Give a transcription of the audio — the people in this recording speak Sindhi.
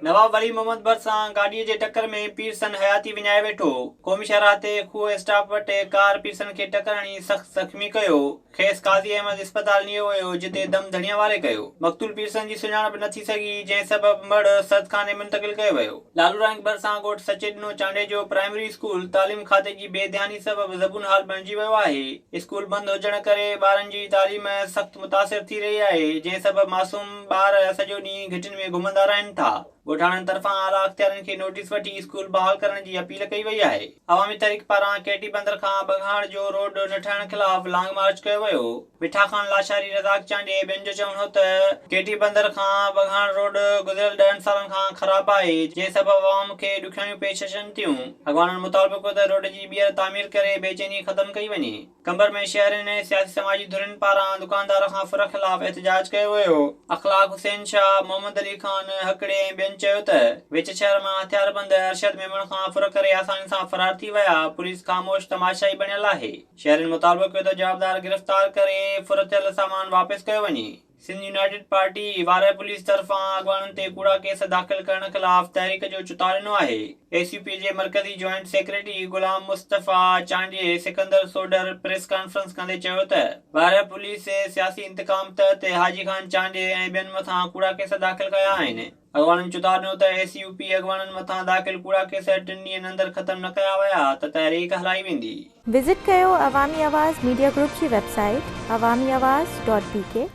نواب ولي محمد بر سان گاڏيء جي ٽڪر ۾ پيرسن حياتي وڃائي ويٺو. قومي شاهراهه تي کوهه اسٽاپ وٽ ڪار پيرسن کي ٽڪر هڻي سخت زخمي ڪيو. کيس قاضي احمد اسپتال نيو ويو جتي دم ڌڻيء واري ڪيو. مقتول پيرسن جي سڃاڻپ نه ٿي سگهي جنهن سبب مڙهه سردخاني منتقل ڪيو ويو. لالورائينگ ڀرسان ڳوٺ سچي ڏنو چانڊيجو پرائمري اسڪول تعليم کاتي جي بي ڌياني سبب زبون حال بڻجي ويو آهي اسڪول بند هجڻ ڪري ٻارن جي تعليم سخت متاثر ٿي رهي آهي جنهن سبب معصوم ٻار سڄو ڏينهن گهٽين ۾ گهمندا رهن ٿا ڳوٺاڻن طرفان اعليٰ اختيارين کي نوٽيس وٺي اسڪول بحال ڪرڻ جي اپيل ڪئي وئي آهي عوامي تحريڪ پاران ڪي ٽي بندر کان ٻگهاڙ جو روڊ نه ٺهڻ خلاف لانگ مارچ ڪيو ويو. مٺا خان لاشاري، رزاق چانڊيي ۽ ٻين جو چوڻ هو ته ڪي ٽي بندر کان ٻگهاڻ روڊ گذريل ڏهن سالن کان خراب آهي جنهن سبب عوام کي ڏکياڻيون پيش اچن ٿيون، اڳواڻن مطالبو ڪيو ته روڊ جي ٻيهر تعمير ڪري بي چيني ختم ڪئي وڃي، قمبر ۾ شهرين ۽ سياسي سماجي ڌرين پاران دڪاندار کان ڦر خلاف احتجاج ڪيو ويو، اخلاق حسين شاهه، محمد علي خان هڪڙي ۽ ٻين چيو ته وچ شهر مان هٿياربند ارشد ميمڻ کان ڦر ڪري آساني سان فرار ٿي ويا، پوليس خاموش تماشائي بڻيل آهي. شهرين مطالبو ڪيو ته جوابدار گرفتار ڪري ڦرتيل سامان واپس ڪيو وڃي. Sindh united party Warah police طرفان اڳواڻن تي ڪوڙا ڪيس داخل ڪرڻ خلاف تحريڪ جو چتاء ڏنو آهي. ايس يو پي جي مرڪزي joint secretary Ghulam Mustafa Chandio Sikandar Sodhar press conference ڪندي چيو ته وارهه پوليس سياسي انتقام تحت حاجي خان چانڊيي ۽ ٻين مٿان ڪوڙا ڪيس داخل ڪيا آهن. اڳواڻن چتاء ڏنو ته اي سي يو پي اڳواڻن مٿان داخل ڪوڙا ڪيس ٽن ڏينهن اندر ختم نه ڪيا ويا ته تحريڪ هلائي ويندي. وزٽ ڪيو عوامي آواز ميڊيا گروپ جي website Awami Awaz dot بي ڪي.